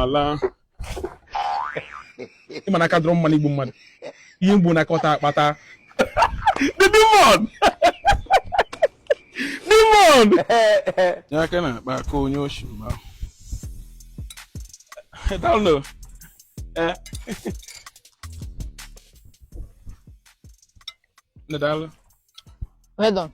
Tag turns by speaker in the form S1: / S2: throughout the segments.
S1: ala ịma na aka dọrọ mma n'igbu mmadụ ihe m gbu na kọtụ a kpata the demon demon ya aka na-akpa aka onye oshi mba dalụ eh nne dalụ Well done.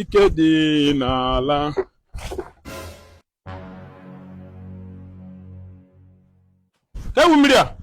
S1: ike dị n'ala ewu mmiri a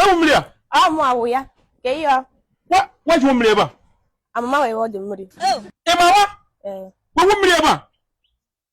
S1: ewu mmiri
S2: a mụ awụ ya ka ihe ọ Wa- wajuo
S1: mmiri ebe a ama m ma wee ọ dị
S2: mmiri ị ma wa
S1: ee wewu mmiri ebe a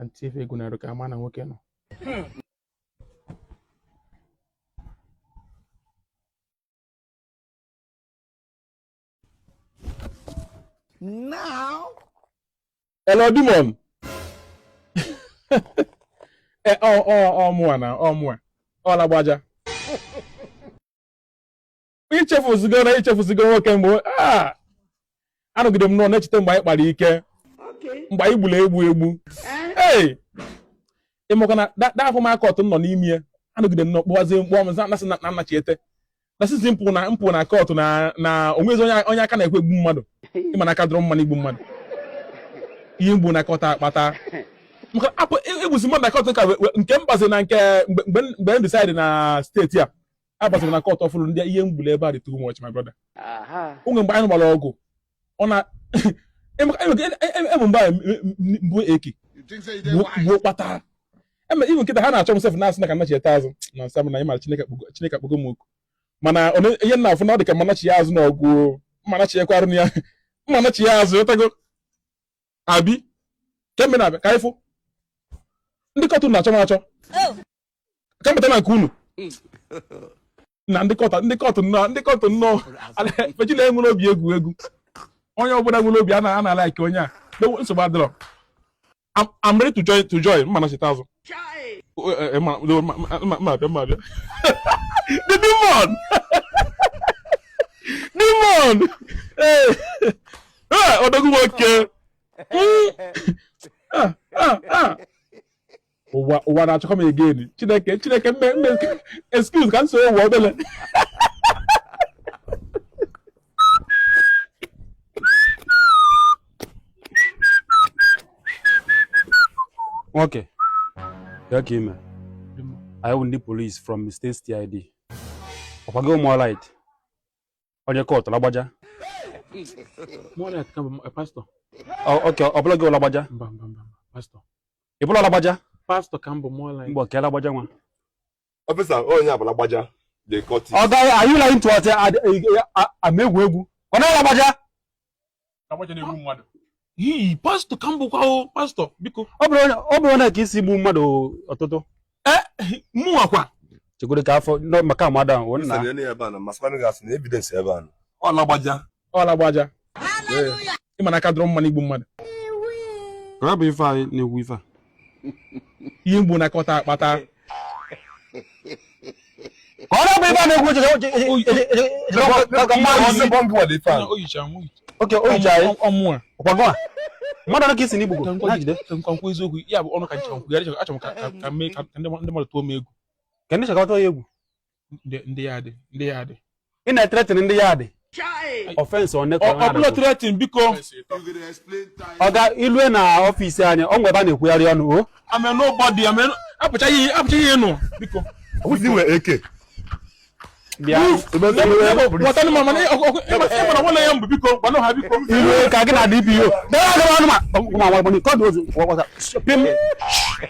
S1: anti ife ego na-arụ ka a ma na nwoke
S3: nọ Now,
S1: Hello, demon. Eh, ọ ọ ọ mụa na ọ mụa ọ Lagbaja ichefuzigo na ichefuzigo nwoke mgbe ah! anọgide m nọ na-echeta mgbe anyị kpara ike mgbe anyị gburu egbu egbu eh? ee ịmakwa na that former kọtụ nọ n'ime ya anọgide m nọ kpọwazie m kpọ m na-asị na m nachiete na-asịzi m pụ na m pụ na kọtụ na na onwezi onye aka na-ekwe egbu mmadụ ịma na aka dọrọ mma n'igbu mmadụ ihe m gbu na kọtụ a kpata maka egbusi mmadụ na kọtụ ka nke m bazi na nke mgbe m decide na steeti a abaziri na kọtụ ọfụrụ ndị ihe m gbulu ebe a dị too much my brother onwe mgbe anyị gbara ọgụ ọ na ebe mgbe m gbu eke gbuo kpata eme ibu nkịta ha na-achọ m sef na-asị na ka m nachiete azụ na m sị na ịmara chineke akpọgo m oku mana ihe m na-afụ na ọ dị ka m anachi ya azụ na ọ bụ m anachi ya kwarụ ya m anachi ya azụ ịtago abi kemgbe na-abịa ka ịfụ ndị kọtụ na-achọ m achọ oh. ka m pụta na nke unu na ndị kọtụ ndị kọtụ nnọọ ndị kọtụ nnọọ ejila enwere obi egwu egwu onye ọbụla nwere obi a na-alike onye a nsogbu adịrọ I'm ready to join to join m ma nachiete azụ the demon demon odogwu nwoke ụwa ụwa na-achọkọ m again chineke chineke mme mme excuse ka m so ụwa
S4: obele nwoke bịa ka i me anyị bụ ndị polisi from state CID ọkwago ụmụ alright onye kọtụ
S1: lagbaja okay
S4: ọ bụ gị bụ
S1: lagbaja ị bụ
S4: lagbaja pastọ ka m bụ
S1: mụọla mgbe ọka lagbaja
S4: nwa
S5: ọfịsa onye a bụ lagbaja ọ gaghị ayụla ntụ ọtị
S4: ama egwu egwu ọ naghị lagbaja
S1: lagbaja na-egbu mmadụ ii pastọ ka m bụkwa o pastọ biko ọ bụrụ na- ọ bụrụ na
S4: ka i si gbu mmadụ ọtụtụ mụnwa
S1: kwa chekwere ka afọ
S4: nọ- maka murder ahụ nna Nsogbu ya na ya ebe a nọ, ma
S5: sịkwanụ gị asị na evidence ebe a nọ. ọ lagbaja ọ
S1: lagbaja ị ma na aka adịrọ mma n'igbu mmadụ
S4: Ka bụ ife anyị na-ekwu ife a
S1: ihe mgbu nakọta
S4: akpata ka ọ na-abụ ebe a na-egwu okay o yicha nwa oke o yicha anyị ọmụa ọkwago a mmadụ one ka ị sị na i gbugo ka na jide nkwa nkwa nkwa
S1: eziokwu ya bụ ọnụ ka nchekwa nkwugharị achọrọ m ka ka- ka mee ka ndị ndị mmadụ tụọ m egwu ka ndị chọọchị tụọ ya
S4: egwu ndị
S1: yard ndị yard ị
S4: na-ethreaten ndị yard offence ọ bụla threaten biko ọga i lue na office anyị o nwe ebe a na-ekwugharị ọnụ o I mean
S1: nobody apụchaghị ihe nụ biko
S4: eke
S1: i lue ka gị na
S4: dpo